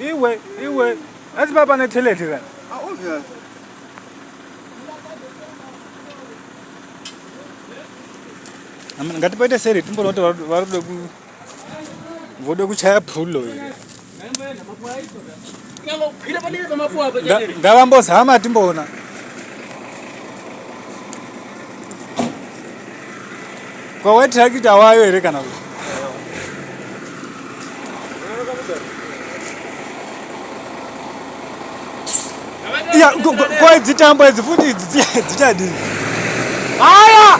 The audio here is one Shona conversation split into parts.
iwe iwe asi baba neteleti ra ngatipoite seri timboona kuti vari kuda ku voda kuchaya phulo here ngavambozama timboona kwawetirakita wayo here kana kuti ya kwa dzitambo idzi futi idzi dzichadii haya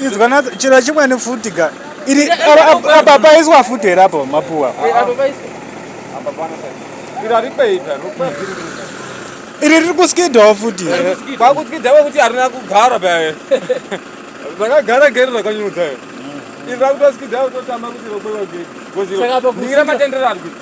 izwana chiro chimwe nefuti ka iri apa paiswa futi here apo mapuwa iri riri kuskidhawo futi kwakuskidha kwekuti harina kugara paye rakagara geri rakanyudza iri rakutoskidha kutotamba kuti rokweva geri ndingira matendero ari kuti